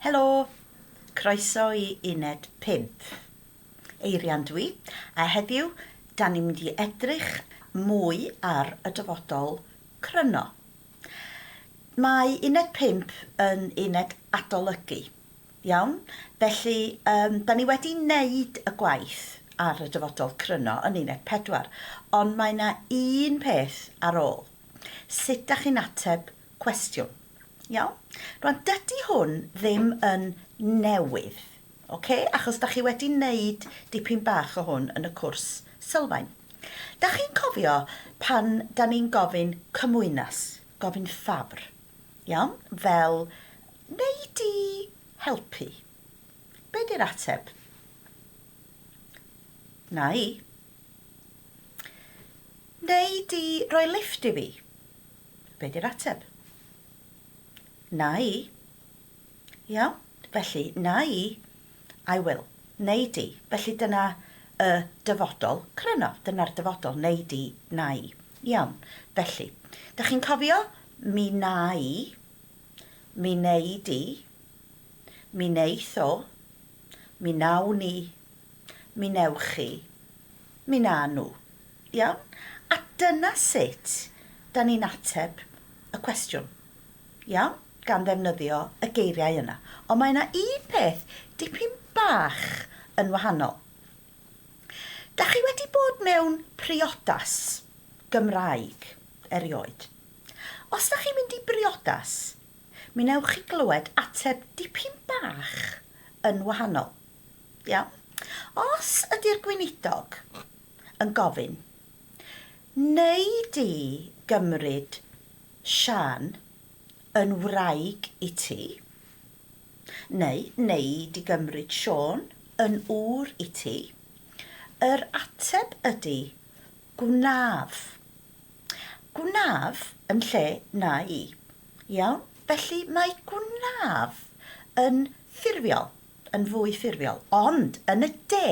Helo! Croeso i uned pump. Eirian dw i, a heddiw 'dan ni'n mynd i edrych mwy ar y dyfodol cryno. Mae uned pump yn uned adolygu, iawn? Felly yym 'dan ni wedi neud y gwaith ar y dyfodol cryno yn uned pedwar, ond mae 'na un peth ar ôl. Sut 'dach chi'n ateb cwestiwn. Iawn? Rwan, dydy hwn ddim yn newydd, oce? Achos da chi wedi wneud dipyn bach o hwn yn y cwrs sylfaen. Da chi'n cofio pan da ni'n gofyn cymwynas, gofyn ffafr, iawn? Fel, neu di helpu. Be di'r ateb? Na i. Neu di roi lift i fi. Be di'r ateb? Na i. Iawn? Felly, na i, I will, neu di. Felly dyna y dyfodol cryno. Dyna'r dyfodol, neu di, na i. Iawn. Felly, da chi'n cofio? Mi na i, mi neu di, mi neith o, mi nawn ni, Mi wnewch chi. Mi wnawn nhw. Iawn? A dyna sut 'dan ni'n ateb y cwestiwn. Iawn? Gan ddefnyddio y geiriau yna. Ond mae yna un peth dipyn bach yn wahanol. Da chi wedi bod mewn priodas Gymraeg erioed? Os da chi'n mynd i briodas, mi wnewch chi glywed ateb dipyn bach yn wahanol. Iawn. Os ydy'r Gweinidog yn gofyn, wnei di gymryd Siân yn wraig i ti, neu wnei di gymryd Siôn yn ŵr i ti, yr ateb ydy, gwnaf. Gwnaf yn lle na i. Iawn? Felly mae gwnaf yn ffurfiol. yn fwy ffurfiol, ond yn y de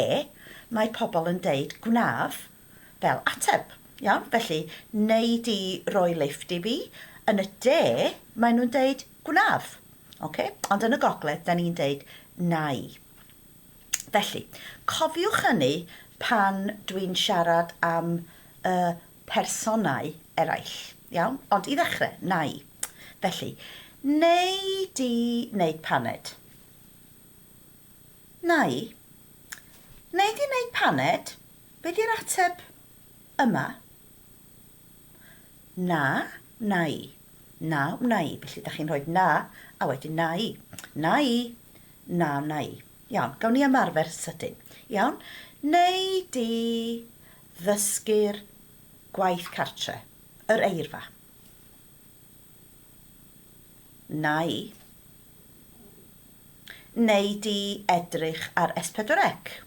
mae pobl yn deud gwnaf fel ateb, iawn? Felly, wnei di roi lifft i fi? Yn y de, maen nhw'n deud gwnaf, ocê? Ond yn y gogledd, da ni'n deud nai. Felly, cofiwch hynny pan dwi'n siarad am y personau eraill. Iawn? Ond i ddechrau, na i. Felly, neu di wneud paned. Na i. Neu di wneud paned, be di'r ateb yma? Na, na i. Na, wna i. Felly, da chi'n rhoi na, a wedyn na i. Na i. Na, wna i. Iawn, gawn ni ymarfer sydyn. Iawn? Neu di Ddysgu'r gwaith cartre, yr eirfa. Nai. Wnei di edrych ar S4C?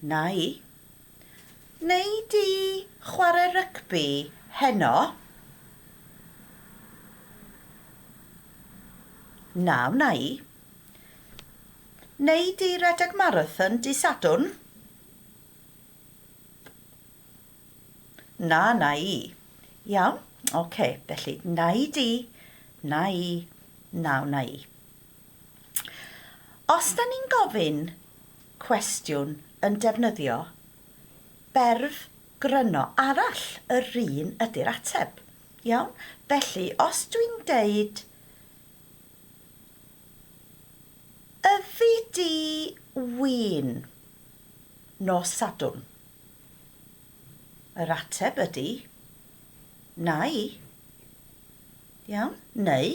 Nai. Wnei di chwarae rygbi heno? Na, wnai. Wnei di redeg marathon dydd Sadwrn? Na, na i. Iawn, oce, felly na i di, na i, na wna i. Os da ni'n gofyn cwestiwn yn defnyddio berf gryno arall, yr un ydy'r ateb. Iawn? Felly, os dwi'n deud Yfi di win nos Sadwrn? Yr ateb ydi, Nai. Iawn? Neu,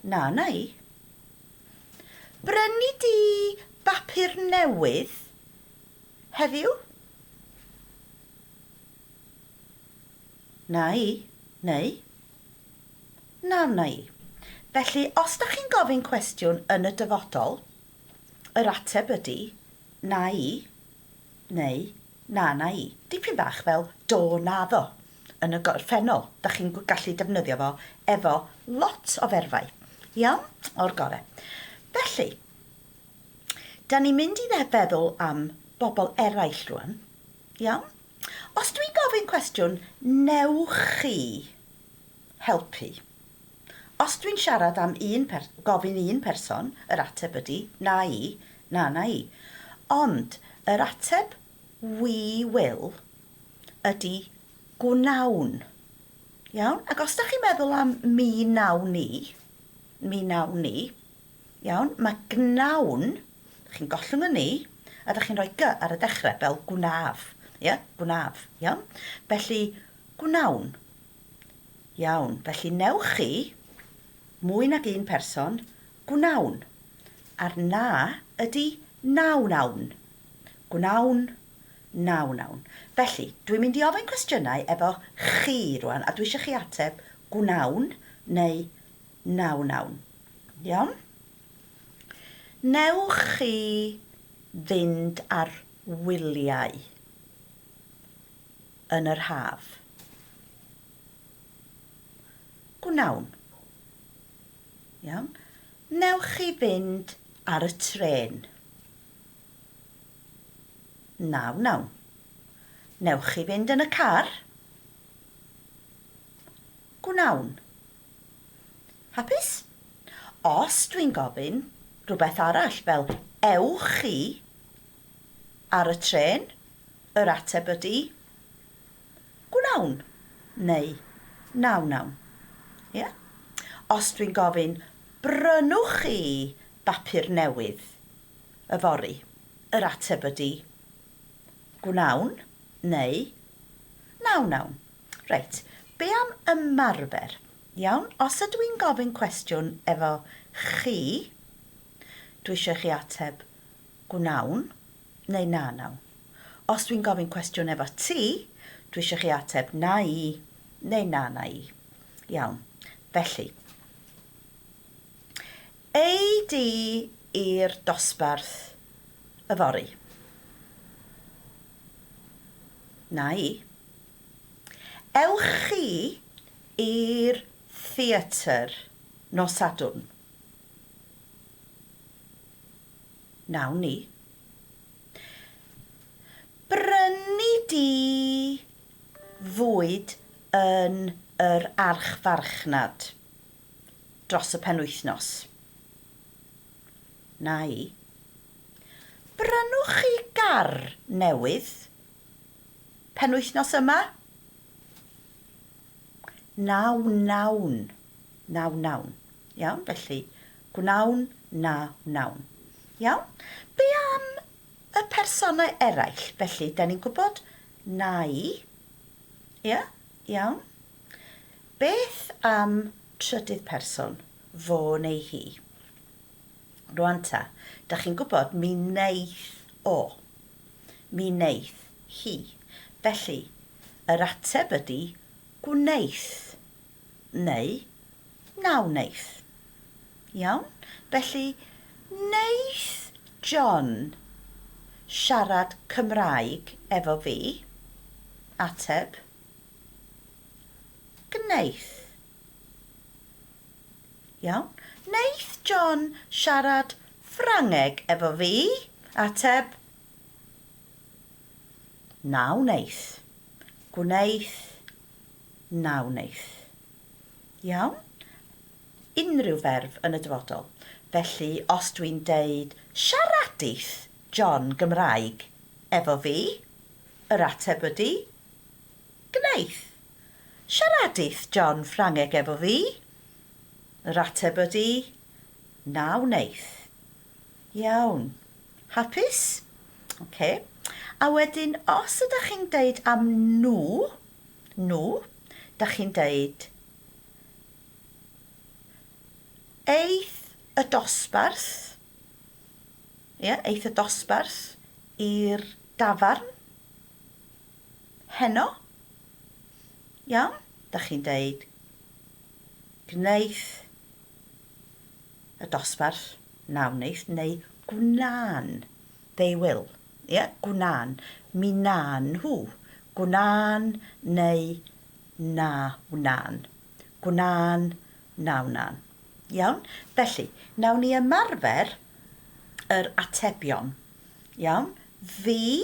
Na nai. Brynu di bapur newydd heddiw? Nai. Neu, Na wnai. Felly, os dach chi'n gofyn cwestiwn yn y dyfodol, yr ateb ydi, na i, neu, na na i. Dipyn bach fel do naddo yn y gorffennol, dach chi'n gallu defnyddio fo efo lot o ferfau. Iawn? O'r gore. Felly, da ni'n mynd i feddwl am bobl eraill rwan. Iawn? Os dwi'n gofyn cwestiwn, newch chi helpu? Os dwi'n siarad am un per-, gofyn un person, yr ateb ydi, na i, na na i. Ond yr ateb 'we will' ydi 'gwnawn'. Iawn? Ac os 'da chi'n meddwl am 'mi wnawn ni', 'mi wnawn ni', Iawn, mae gnawn, chi'n gollwng y ni, a da chi'n rhoi gy ar y dechrau, fel gwnaf. Ie, gwnaf. Iawn? Felly, gnawn. Iawn, felly newch chi, mwy nag un person, gnawn. A'r na ydy nawn awn. Gnawn, nawn awn. Felly, dwi'n mynd i ofyn cwestiynau efo chi rwan, a dwi eisiau chi ateb gnawn neu Na wnawn. Iawn? Wnewch chi fynd ar wyliau yn yr haf? Gwnawn. Iawn? Wnewch chi fynd ar y trên? Na wnawn. Wnewch chi fynd yn y car? Gwnawn. Hapus? Os dwi'n gofyn rhywbeth arall fel 'Ewch chi ar y trên? yr ateb ydy 'Gwnawn' neu 'Na wnawn'. Ie? Os dwi'n gofyn 'Brynwch chi bapur newydd yfory? yr ateb ydy 'Gwnawn' neu 'Na wnawn'. Reit, be am ymarfer? Iawn, os ydw i'n gofyn cwestiwn efo chi, dwi eisiau i chi ateb gwnawn neu na nawn. Os dwi'n gofyn cwestiwn efo ti, dwi eisiau chi ateb na i neu na na i. Iawn, felly. Ei di i'r dosbarth yfory? Na i. Ewch chi i'r theatr nos Sadwrn? Wnawn ni. Brynu di fwyd yn yr archfarchnad dros y penwythnos. Nai. Brynwch chi gar newydd? Penwythnos yma? Na wnawn. Na wnawn. Iawn, felly, gwnawn, na wnawn. Iawn? Be am y personau eraill? Felly, da ni'n gwybod na i. Ia? Iawn? Beth am trydydd person? Fo neu hi. Rwan ta, da chi'n gwybod, mi wneith o. Mi wneith hi. Felly, yr ateb ydy gwneith. Neu, na wneith. Iawn? Felly, wneith John siarad Cymraeg efo fi? Ateb, Gwneith. Iawn. Wneith John siarad Ffrangeg efo fi? Ateb, Na wneith. Gwneith, Na wneith. Iawn? Unrhyw ferf yn y dyfodol. Felly, os dwi'n deud, Siaradith John Gymraeg efo fi? Yr ateb ydy, Gwneith. Siaradith John Ffrangeg efo fi? Yr ateb ydi, Na wneith. Iawn. Hapus? Ok. A wedyn os ydach chi'n deud am nhw, nhw, dach chi'n deud Aeth y dosbarth, ie, aeth y dosbarth i'r dafarn. Heno? Iawn, da chi'n deud gwneith y dosbarth na wneith neu gwna'n, they will, ie, yeah? gwna'n, mi na'n nhw, gwna'n neu na wna'n, gwna'n, na wna'n. Iawn? Felly, nawn ni ymarfer yr atebion. Iawn? Fi,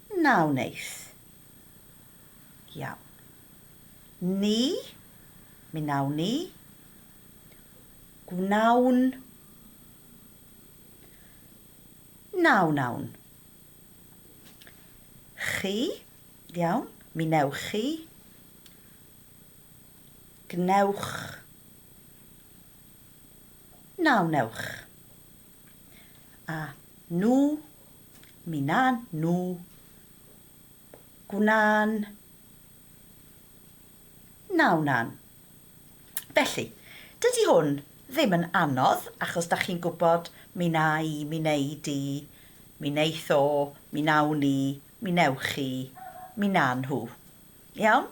Na wneith. Iawn. Ni, mi wnawn ni. Gwnawn. Na wnawn. Chi, iawn, mi wnewch chi. Gwnewch. Na wnewch. A nhw, Mi wna'n nhw. Gwna'n. Na wna'n. Felly, dydy hwn ddim yn anodd achos da chi'n gwybod mi wna i, mi wnei di, mi wneith o, mi wnawn ni, mi wnewch chi, mi wna nhw. Iawn?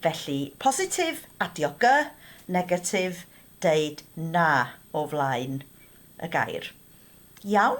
Felly, positif, adio gy, negatif, deud na o flaen y gair. Iawn?